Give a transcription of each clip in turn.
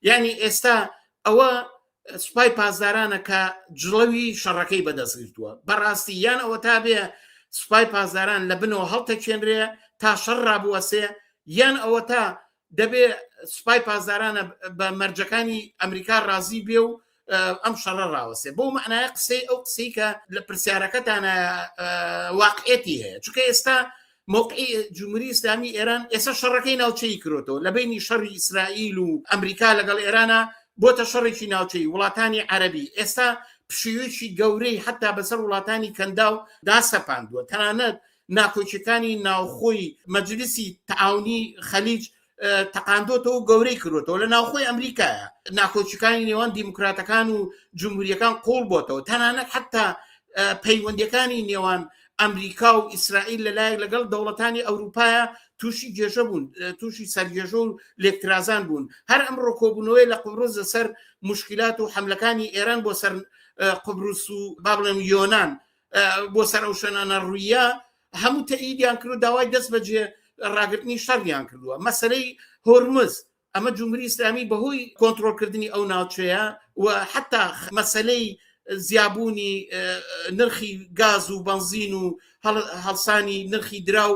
یعنی ئێستا ئەوە سوپای پاسدارانە کە جڵەوی شەڕەکەی بەدەستگرتووە بەڕاستی یان ئەوە تا بێ سوپای پاسداران لە بنەوە هەڵتەچێنرێ تا شەڕ ڕابوەسێ یان ئەوە تا دەبێ سوپای پاسدارانە بە مەرجەکانی ئەمریکا ڕازی بێ و ئەم شەڕە ڕاوەسێ بۆ معناە قسەی ئەو قسەی کە لە پرسیارەکەتانە واقعێتی هەیە چکە ئێستا موقعی جمهوری ئسلامی ئێران ئێستا شەڕەکەی ناوچەی کرۆتەوە لە بینی شەڕی ئیسرائیل و ئەمریکا لەگەڵ ئێرانە بۆتە شەڕێکی ناوچەی وڵاتانی عەربی ئێستا پشیوێکی گەورەی حتا بەسەر وڵاتانی کەندا و داسەپاندووە تەنانەت ناکۆچەکانی ناوخۆی مەجلیسی تعاونی خەلیج تەقاندۆتەوە گەورەی کردوتەوە لە ناوخۆی ئەمریکایە ناکۆچەکانی نێوان دیموکراتەکان و جمهوریەکان قۆڵ بۆتەوە تەنانەت حتا پەیوەندەکانی نێوان ئەمریکا و ئیسرائیل لەلایەک لەگەڵ دەوڵەتانی ئەوروپایە تووشی گێژە بوون تووشی سەرگێژە و لێکترازان بوون هەر ئەم ڕۆکۆبوونەوەی لە قوڕز لەسەر مشکلات و حملەکانی ئێران بۆ سەر قبرس و بابلم یۆناان بۆ سەر ئەو شوێنانە ڕوویە هەموو تەئیدیان کرد و داوای دەست بەجێ ڕاگرتنی شەڕیان کردووە مەسەرەی هۆرمز ئەمە جمهوری ئسلامی بەهۆی کۆنتترۆلکردنی ئەو ناوچەیە و حتا مەسلەی زیابوونی نرخی گاز و بنزین و هەڵسانی نرخی دراو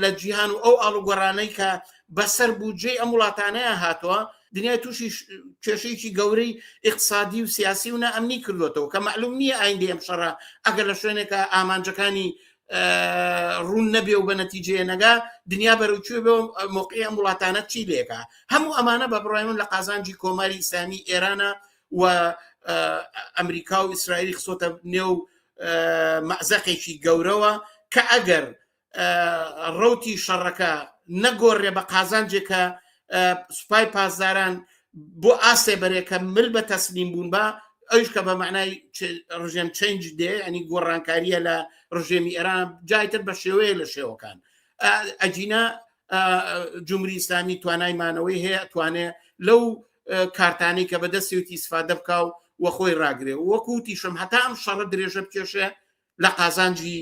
لە جیهان و ئەو ئاڵوگۆڕانەی کە بەسەر بودجەی ئەم وڵاتانەیە هاتووە دنیای تووشی کێشەیەکی گەورەی اقتصادی و سیاسی و نائەمنی کردوێتەوە کە معلوم نییە ئایندی ئەم شەڕە ئەگەر لە شوێنێکە ئامانجەکانی ڕوون نەبێ و بە نەتیجێ نەگا دنیا بەرەوچێ بۆ مۆقی ئەم وڵاتانە چی لێکە هەموو ئەمانە بە بڕای من لە قازانجی کۆماری ئیسلامی ئێرانە و ئەمریکا و ئیسرائیلی خسۆتە نێو مەزەقێکی گەورەوە کە ئەگەر ڕەوتی شەڕەکە نەگۆڕێ بە قازانجێکە سوپای پاسداران بۆ ئاسێ بەرێکە مل بە تەسلیم بوون بە ئەوش کە بە معنای ڕژێم چنج دێ ئەنی گۆڕانکاریە لە ڕژێمی ئێران جایتر بە شێوەیە لە شێوەکان ئەجینا جمهوری ئیسلامی توانای مانەوەی هەیە توانێ لەو کارتانی کە بەدەستێتی سفادە بکە و وە خۆی ڕاگرێ وەکوتیشم هەتا ئەم شەڕە درێژە بکێشێ لە قازانجی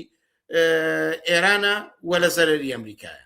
ئێرانە و لە زەرری ئەمریکایە